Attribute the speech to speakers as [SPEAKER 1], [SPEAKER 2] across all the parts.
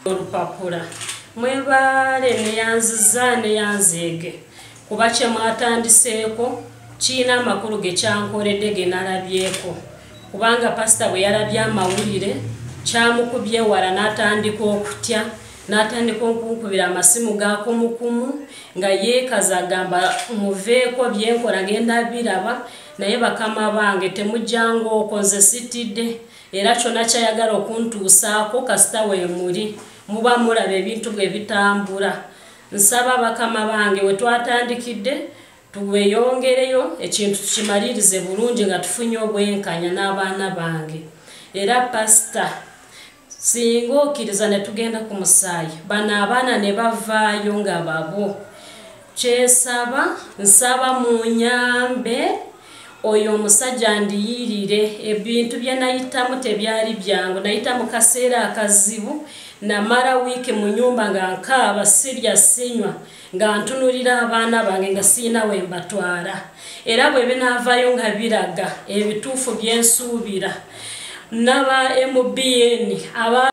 [SPEAKER 1] olupapula mwebaale neyanziza neyanzeege kuba kyemwatandiseeko kirina amakulu gekyankoledde genalabyeko kubanga pasita bwe yalabye amawulire kyamukubye ewala n'atandika okutya n'atandika okunkubira amasimu ga kumukumu nga yeekaza agamba muveeko byenkola ngenda biraba naye bakama bange temujjanga oko nze sitidde era kyona kyayagala okuntuusaako kasita wemuli muba mulaba ebintu bwe bitambula nsaba bakama bange we twatandikidde tuweyongereyo ekintu tukimalirize bulungi nga tufunye obwenkanya n'abaana bange era pasita singa okkiriza ne tugenda ku musaayi bano abaana ne bavaayo nga babwo kyesaba nsaba munyambe oyo omusajja ndiyirire ebintu bye nayitamu tebyali byangu nayita mu kaseera akazibu namala wiiki mu nyumba nga nkaaba sirya sinywa nga ntunulira abaana bange nga sirina we mbatwala era bwe binaavayo nga biraga ebituufu bye nsuubira naba mbn aba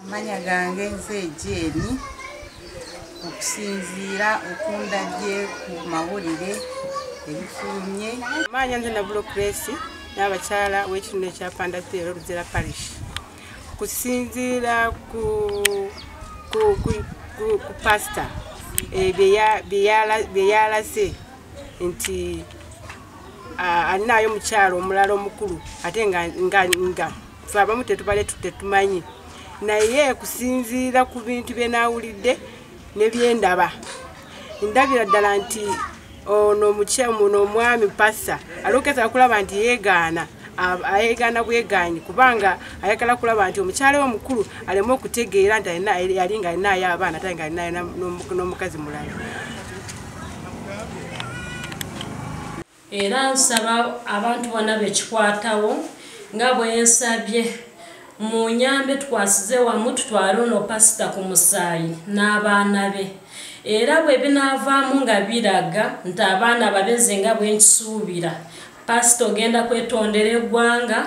[SPEAKER 2] amanya gange nze ejeeni okusinziira okundabye ku mawulire ebifulumye maanya nze nabulo kuresi n'abakyala w'ekitundu ekya pandatiero luzera parish kusinziira ku pasita eh, byeyalase nti alinayo omukyalo omulala omukulu ate nga fe abamu tetubale tutetumanyi naye kusinziira ku bintu bye naawulidde ne bye ndaba ndabira ddala nti ono omukyamuna omwami pasa alokeza okulaba nti yeegaana ayegaana bwegaanyi kubanga ayagala kulaba nti omukyala we mukulu aleme okutegeera nti yali nga alinayo abaana ate nga alinayo n'omukazi mulala
[SPEAKER 1] era nsaba abantu bona bekikwatawo nga bwensabye mu nyambe tukwasize wamu tutwale ono pasita ku musaayi n'abaana be era bwe binaavaamu nga biraga nti abaana babeze nga bwenkisuubira pasita ogenda kwetondera eggwanga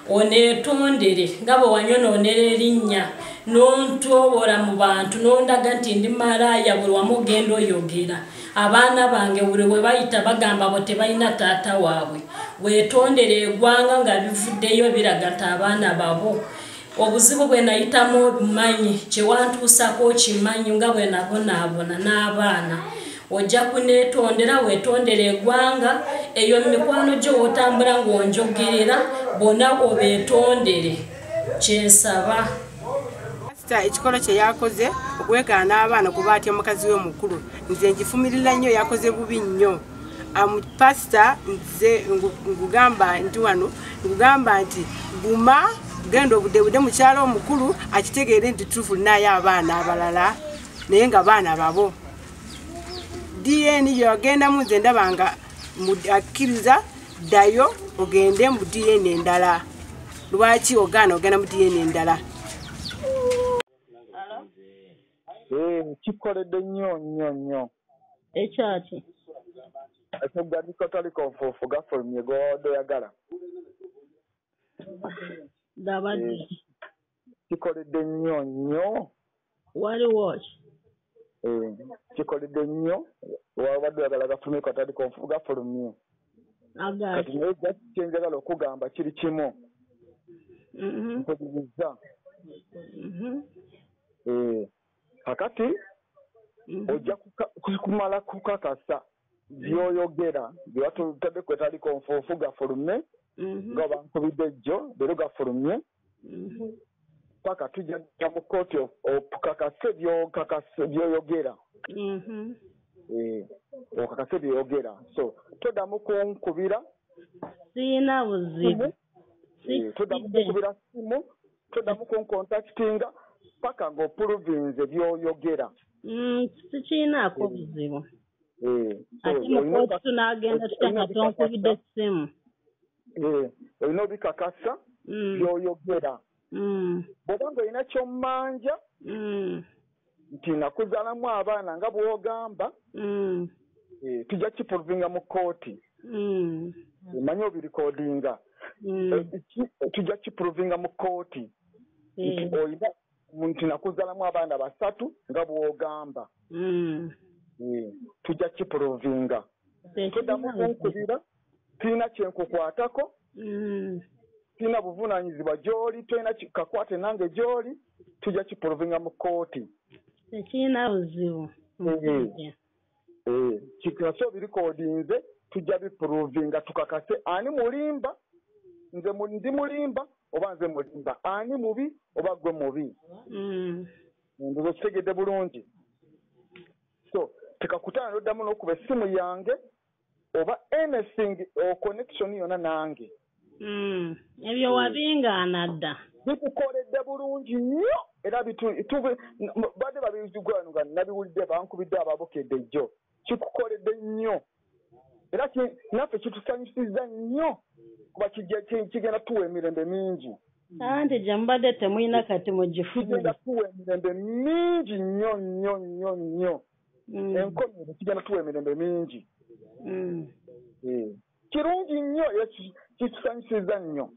[SPEAKER 1] oneetondere nga bwe wanyonoonera erinnya n'ontoobola mu bantu n'ondaga nti ndi malaaya buli wamu ogenda oyogera abaana bange buli we bayita bagamba bo tebalina taata waabwe weetondere egwanga nga bivuddeyo biraga nti abaana babo obuzibu bwe nayitamu obumanyi kyewantuusako kimanyi nga bwe nabonaabona n'abaana ojja kuneetondera weetondera egwanga eyo mikwano gyo wotambula ng'onjogerera bona obeetondere kyensaba
[SPEAKER 2] pasita ekikolo kye yakoze okwegaana abaana kuba atya mukazi we mukulu nze ngifumirira nnyo yakoze bubi nnyo pasita nze ngugamba nti wano ngugamba nti guma genda obudebude mukyalo omukulu akitegeere nti tufu naye abaana abalala naye nga baana babo dna yagendamu nze ndaba nga akkiriza ddayo ogende mu dna endala lwaki ogaana ogenda mu dna endala
[SPEAKER 3] eh, kikoledde nnyo nnyo nnyo ekyaki ekyogandika otaliko nfuufu gafulumye gwodoyagala
[SPEAKER 1] gabadde eh.
[SPEAKER 3] kikoledde nnyo nnyo wali
[SPEAKER 1] watch eh,
[SPEAKER 3] kikoledde nnyo wabadde oyagala gafulume katali konfu gafulumye kati naye just kyenjagala okugamba kiri kimu mm-hmm. nkubirizza mm-hmm. eh, kakati mm-hmm. ojja kumala kukakasa byoyogera byewatutadde kwetali konfuufu gafulume nga bankubidde jjo leero gafulumye paka tujja kugenda mu kkooti okakase byoyogera mm-hmm. eh, okakase byoyogera so todamu kunkubira siina
[SPEAKER 4] buzibu eh, todamu
[SPEAKER 3] kunkubira simu todamu kunkontaktinga paka ngaopuluvinze byoyogera mm,
[SPEAKER 4] sikiinaako eh. buzibu ate mukooti tunagenda tutya nga tonkubidde simu Eh,
[SPEAKER 3] olina obikakasa mm. byoyogera mm. bwoba nga olina kyomanja mm. nti nakuzalamu abaana nga bwogamba eh, tujja kipulvinga mu kooti manya obirikodinga eh, tujja kipulvinga mu kooti nti olina nti nakuzalamu abaana basatu nga bwogamba tujja kipulvinga todamu kunkubira Sirina kye nkukwatako. Sirina buvunaanyizibwa gy'oli, tolina kakwate nange gy'oli, tujja kipuluvinga mu kkooti. Tekirina
[SPEAKER 4] buzibu musajja.
[SPEAKER 3] Kikakase obirikodinze, tujja bipuluvinga tukakase ani mulimba, nze ndi mulimba oba nze mulimba, ani mubi oba ggwe mubi. Ndoza okitegedde bulungi. So tekakutaano n'oddamu n'okuba essimu yange oba anything or connection yona nange mm,
[SPEAKER 4] ebyo mm. wabingaana dda bitukoledde
[SPEAKER 3] bulungi nnyo era bade babizigwano nga nabiwulidde bankubidde ababukedde jjo kikukoledde nnyo era naffe kitusanyusiza nnyo kuba kigenda tuwa emirembe mingi anti gye
[SPEAKER 4] mubadde temulina kati mugifugenda tuwa emirembe
[SPEAKER 3] mingi nnyo nnyo nnyo nnyo Mm. enkomerero kigenda tuwa emirembe mingi Mm. Eh, kirungi nnyo era ki- kitusanyusiza nnyo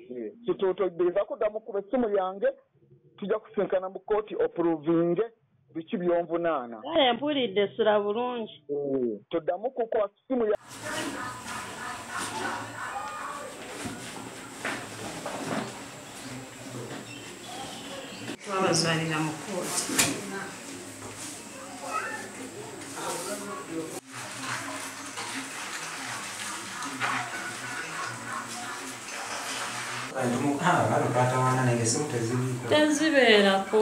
[SPEAKER 3] Eh, kituutoddeza kudda mu kuba essimu yange tujja kusinkana mu kooti opuruvinge biki byonvunaana Kale mpulidde
[SPEAKER 4] sula bulungi. Eh, tuddamu
[SPEAKER 3] kukwasa
[SPEAKER 1] simu ya twabazalira mu kooti tezibeerako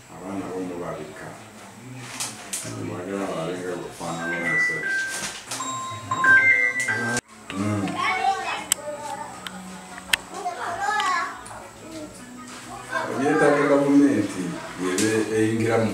[SPEAKER 1] abaana bomu babika mwagala balenga kufaanana omusajja ebyetaaga gavumenti yebe eyingiramu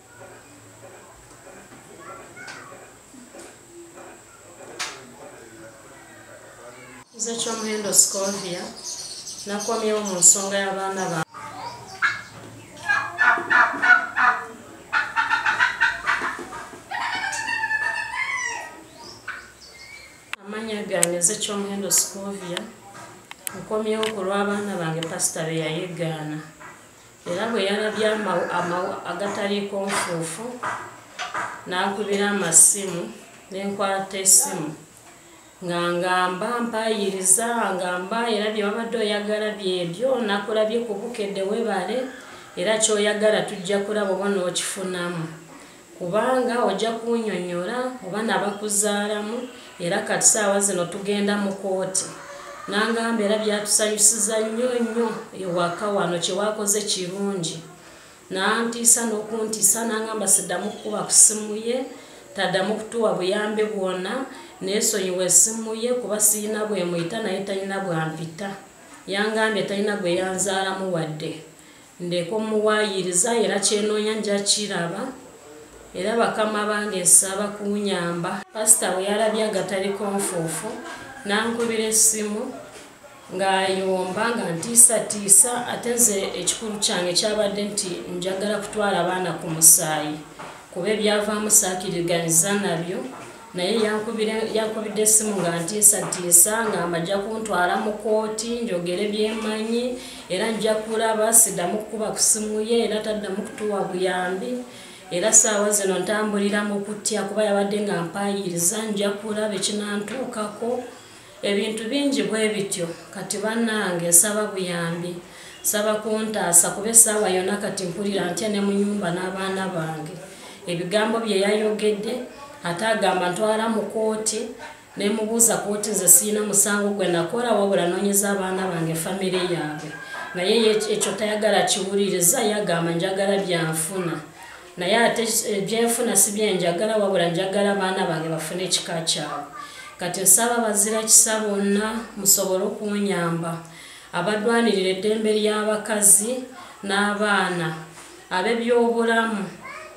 [SPEAKER 1] nze kyomuhendo scovia nakomyewo mu nsonga y'abaana ba amanya gange nze kyomuhendo scovia nkomyewo ku lw'abaana bange pasita beyayegaana era bwe yalabye amawa agataliikonfuufu n'ankubira amasimu n'enkwata esimu nga ngamba mpayiriza ngamba era bye wabadde oyagala byebyo nakulabye kubukedde webale era kyoyagala tujja kulaba oba n'okifunamu kubanga ojja kunyonyola oba nabakuzaalamu era kati saawa zino tugenda mu kooti nangamba era byatusanyusiza nnyo nnyo ewaka wano kyewakoze kirungi nantiisa nokuntiisa nangamba siddamu kukuba ku simu ye taddamu kutuwa buyambi bwona nesonyiwa esimu ye kuba siyina bwemuyita naye talina bwampita yangambye talina gweyanzaalamu wadde ndeka omuwaayiriza era kyenoonya nja kiraba era bakama bange nsaba kunyamba pasita bwe yalabye agatali konfuufu n'ankubira essimu ng'ayomba nga ntiisatiisa ate nze ekikulu kyange kyabadde nti njagala kutwala abaana ku musaayi kuba ebyavaamu saakiriganyiza nabyo naye yankubidde essimu nga ntiisatiisa nga mbajja kuntwala mu kooti njogere byemanyi era nja kulaba siddamu kukuba ku simu ye era taddamu kutuwa buyambi era saawa zino ntambulira mu kutya kuba yabadde nga mpaayiriza nja kulaba ekinantuukako ebintu bingi bwe bityo kati bannange nsaba buyambi nsaba kuntaasa kuba essaawa yonna kati mpulira ntya ne mu nyumba n'abaana bange ebigambo bye yayogedde ate agamba ntwala mu kooti ne mubuuza kooti nze sirina musango gwe nakola wabula noonyeza abaana bange famire yaabwe naye ekyo tayagala kiwuliriza yagamba njagala byanfuna naye ate eh, byenfuna si byenjagala wabula njagala baana bange bafune ekika kyabwe kati nsaba bazira kisa bonna musobole okunyamba abadwanirira eddembe ly'abakazi n'abaana ab'ebyobulamu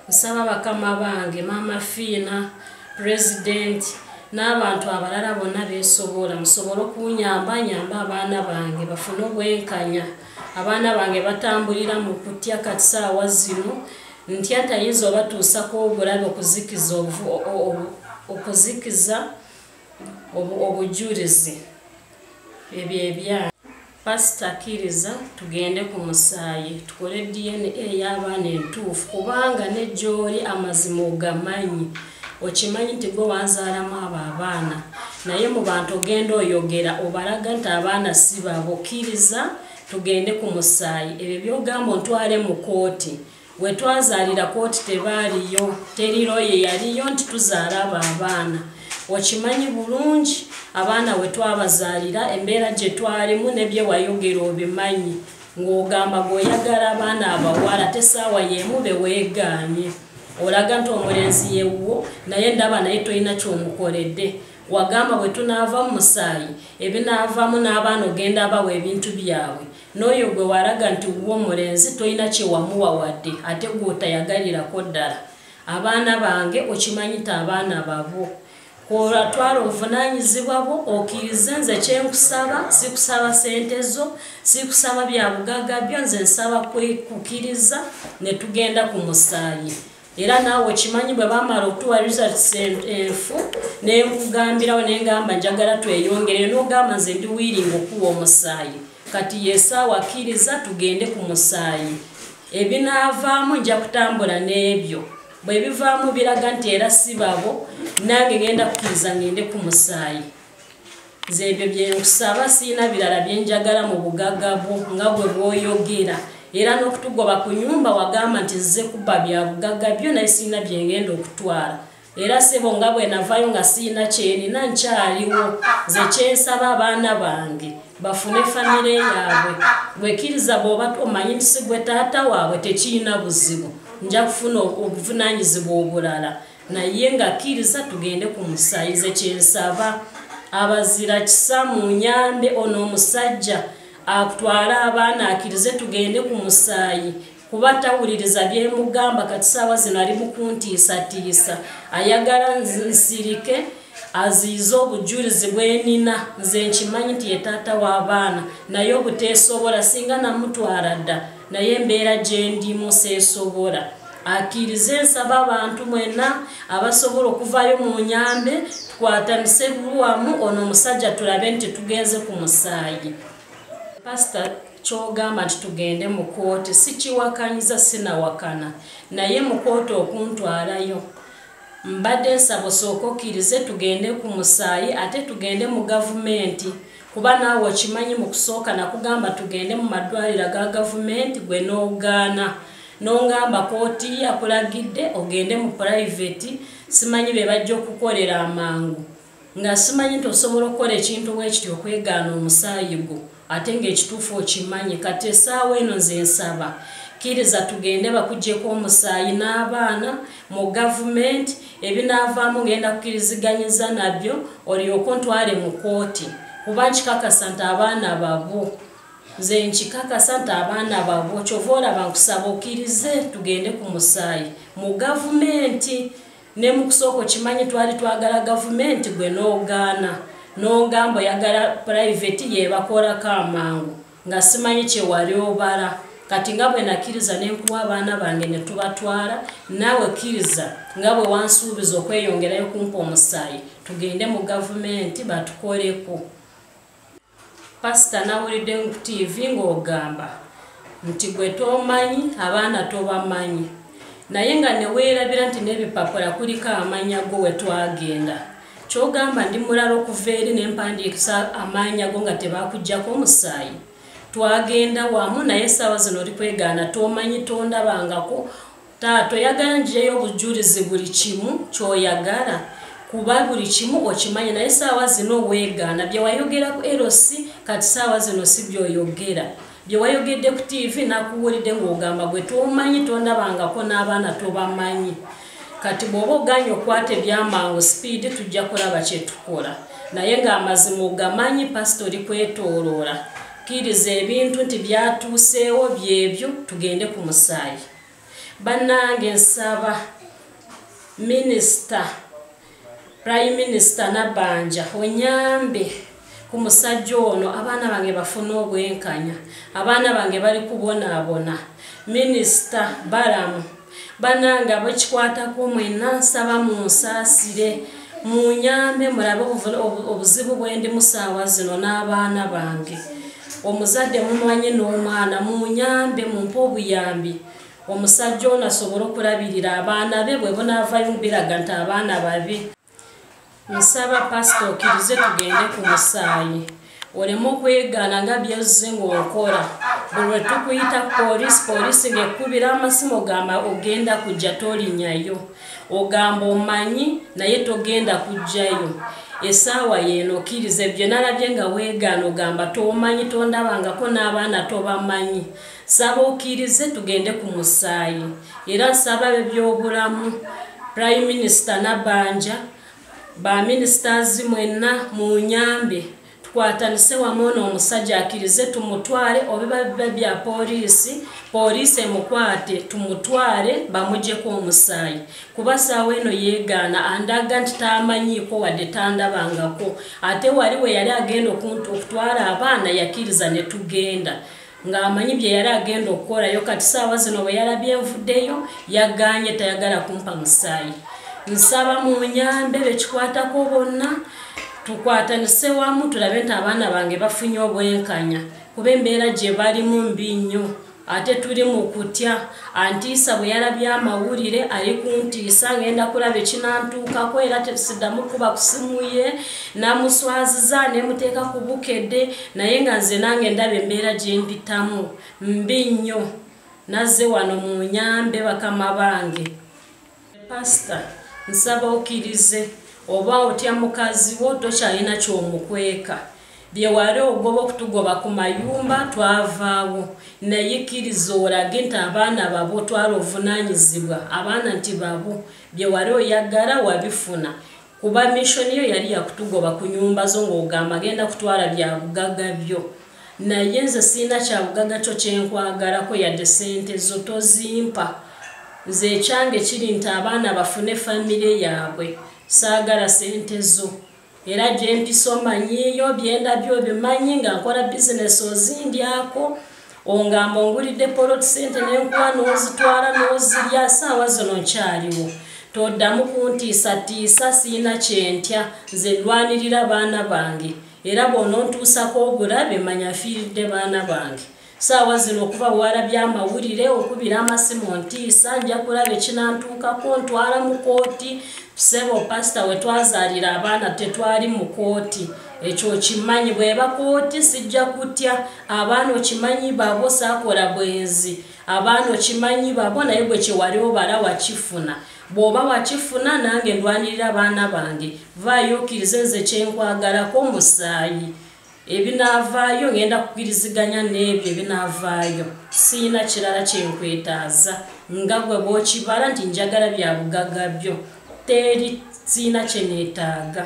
[SPEAKER 1] nsaba bakama bange maama fiina pulezidenti n'abantu abalala bonna beesobola musobole okunyamba nyamba abaana bange bafune obwenkanya abaana bange batambulira mu kutya kati saawa zino ntya ntayinza obatuusako obulabe okuzikiza okuzikiza obujulizi ebyo ebya pasita akkiriza tugende ku musaayi tukole dna ey'abaana entuufu kubanga ne gy'oli amazima ogamanyi okimanyi nti gwe wanzaalamu abo abaana naye mu bantu ogenda oyogera obalaga nti abaana si babo kkiriza tugende ku musaayi ebyo byogamba ontwale mu kooti wetwazaalira kooti tebaaliyo teriroye yaliyo nti tuzaala abo abaana okimanyi bulungi abaana wetwabazaalira embeera gye twalimu nebyewayogera obimanyi ng'ogamba gweoyagala abaana abawala tesaawa yeemu beweegaanye olaga nti omulenzi yewuwo naye ndaba naye tolina kyomukoledde wagamba bwe tunaava mu musaayi ebinaavaamu n'abaana ogenda abawa ebintu byabwe n'oyo gwe walaga nti wuwo omulenzi tolina kyewamuwa wadde ate gwotayagalirako ddala abaana bange okimanyi ti abaana babo Olwatwala obuvunaanyizibwa bwo okkirize nze kye nkusaba sikusaba sente zo sikusaba bya bugagga byo nze nsaba kukkiriza ne tugenda ku musaayi era naawe okimanyi bwe bamala okutuwa results enfu ne nkugambirawo naye ngamba njagala tweyongere n'ogamba nze ndi wiiringa okuwa omusaayi kati yesaawa akkiriza tugende ku musaayi ebinaavaamu nja kutambula n'ebyo bwe bivaamu biraga nti era si babo nange ngenda kukkiriza ngende ku musaayi nze ebyo byenkusaba siina birala byenjagala mu bugaga bwo nga bwe bwoyogera era n'okutugoba ku nyumba wagamba nti zze kubba bya bugaga byo naye siina byengenda okutwala era sebo nga bwe navayo nga siina kyenina nkyaliwo nze kyensaba abaana bange bafune famire yaabwe bwekiriza bwoba omanyi nti sigwe taata waabwe tekirina buzibu nja kufuna obuvunanyizibwa obulala naye nga kkiriza tugende ku musayize kyensaba abazira kisa mu nyambe ono omusajja akutwale abaana akirize tugende ku musaayi kuba tawuliriza byemugamba kati saawa zino ali mukuntiisatiisa ayagala nsirike aziize obujulizi bwenina nze nkimanyi nti yetaata w'abaana naye obuteesobola singa namutwala dda naye embeera gyendimu seesobola akirize nsaba abantu mwena abasobola okuvayo mu nyambe tukwatanise bulwamu ono omusajja tulabe nti tugenze ku musaayi Pastor kyogamba nti tugende mu kooti sikiwakanyiza sinawakana naye mu kooti okuntwalayo mbadde nsaba osooka okkirize tugende ku musaayi ate tugende mu gavumenti kuba naawe okimanyi mu kusooka nakugamba tugende mu maddwaliro ga gavumenti gwe n'ogaana n'ongamba kooti yakulagidde ogende mu purayiveti simanyi be bajja okukolera amangu nga simanyi nti osobola okukola ekintu bwekiti okwegaana omusaayi gwo ate ngaekituufu okimanyi kati esaawa eno nze nsaba kkiriza tugende bakugyeko omusaayi n'abaana mu gavumenti ebinaavaamu ngenda kukiriziganyiza nabyo olyoka ntwale mu kooti kuba nkikakasa nti abaana babo nze nkikakasa nti abaana babo kyova olaba nkusaba okkirize tugende ku musaayi mu gavumenti ne mu kusooka okimanyi twali twagala gavumenti gwe n'ogaana n'ogamba oyagala purayiveti yeebakolako amangu nga simanyi kye wali obala kati nga bwe nakkiriza ne nkuwa abaana bange ne tubatwala naawe kkiriza nga bwe wansuubiza okweyongerayo kumpa omusaayi tugende mu gavumenti batukoleko pasita nawulidde ku tiivi ng'ogamba nti gwe tomanyi abaana tobamanyi naye nga neweerabira nti n'ebipapula kuliko amanya go wetwagenda kyogamba ndi mulala okuva eri nempandiikisa amaanya go nga tebakujjako omusaayi twagenda wamu naye esaawa zino oli kwegaana tomanyi tondabangako Taata oyagala njireyo obujjulizi buli kimu kyoyagala kuba buli kimu okimanyi naye saawa zino weegaana bye wayogera ku LC kati saawa zino si byoyogera bye wayogedde ku TV nakuwulidde ng'ogamba gwe tomanyi tondabangako n'abaana tobamanyi kati bw'oba oganye okwata ebyamangu sipiidi tujja kulaba kye tukola naye ng'amazima ogamanyi pasita oli kwetooloola kkiriza ebintu nti byatuuseewo byebyo tugende ku musaayi banange nsaba minister prime minister nabanja onyambe ku musajja ono abaana bange bafuna obwenkanya abaana bange bali kubonaabona minisita balamu banange abekikwatako mwena nsaba munsaasire munyambe mulabe obuzibu bwendi musaawa zino n'abaana bange omuzadde mumanye n'omwana munyambe mumpe obuyambi omusajja ono asobole okulabirira abaana be bwe bunaavayo mubiraga nti abaana babi nsaba pasita okirize tugende ku musaayi oleme okwegaana nga byozze ng'okola buli lwe tukuyita ku poliisi poliisi ng'ekkubira amasimu gamba ogenda kujja tolinyayo ogamba omanyi naye togenda kujjayo esaawa yeeno okkiriza ebyo nalabye nga weegaana ogamba tomanyi tondabangako n'abaana tobamanyi saba okkirize tugende ku musaayi era nsaba be byobulamu prime minisita nabanja baminisitazi mwenna mu nyambe tukwatanise wamu ono omusajja akirize tumutwale obiba biba bya poliisi poliisi emukwate tumutwale bamugyeko omusaayi kuba saawa eno yeegaana andaga nti taamanyiiko wadde tandabangako ate wali we yali agenda okutwala abaana yakiriza ne tugenda ng'amanyi bye yali agenda okukolayo kati saawa zino bwe yalabye nvuddeyo yaganye tayagala kumpa musaayi nsaba mu nyambe bekikwatako bonna tukwatanise wamu tulabe nti abaana bange bafunye obwenkanya kuba embeera gye balimu mbi nnyo ate tuli mu kutya antiisa bwe yalabye amawulire ali kuntiisa ng'enda kulaba ekinantuukako era tesiddamu kuba ku simu ye namuswaziza ne muteeka ku bukedde naye nga nze nange ndaba embeera gye mpitamu mbi nnyo nazze wano mu nyambe bakama bange Pastor, nsaba okirize oba otya mukazi wo tokyalina kyomukweka byewali ogoba okutugoba ku mayumba twavaawo naye kiriza olage nti abaana babo twala ovunanyizibwa abaana nti babo byewali oyagala wabifuna kuba mission yo yali yakutugoba ku nyumba zo ng'ogamba agenda kutwala bya bugagga byo naye nze sirina kya bugagga kyo kyenkwagalako yadde sente zo tozimpa nze ekyange kiri nti abaana bafune famire yaabwe saagala sente zo era gye mpisa omanyiiyo byendabyo obimanyi nga nkola bizinesi ozindyako ongamba ongulidde poloti sente nenkuwa nozitwala nozirya saawa zino nkyaliwo toddamu kuntiisatiisa siina kyentya nze ndwanirira baana bange era bwonontuusako obulabe manya fiiridde baana bange saawa zino okuba wala byamawulire okubira amasimu ntiisa nja kulaba ekinantuukako ntwala mu kooti sebo pasita wetwazaalira abaana tetwali mu kooti ekyo kimanyi bweba kooti sijja kutya abaana okimanyi babo sakola bwenzi abaana okimanyi babo naye gwe kyewali obala wakifuna bwoba wakifuna nange ndwanirira abaana bange vaayo okirize nze kyenkwagalako musaayi ebinaavaayo ngenda kukiriziganya n'ebyo ebinaavaayo siina kirala kyenkwetaaza nga gwe bwokibala nti njagala bya bugaga byo teri siina kyeneetaaga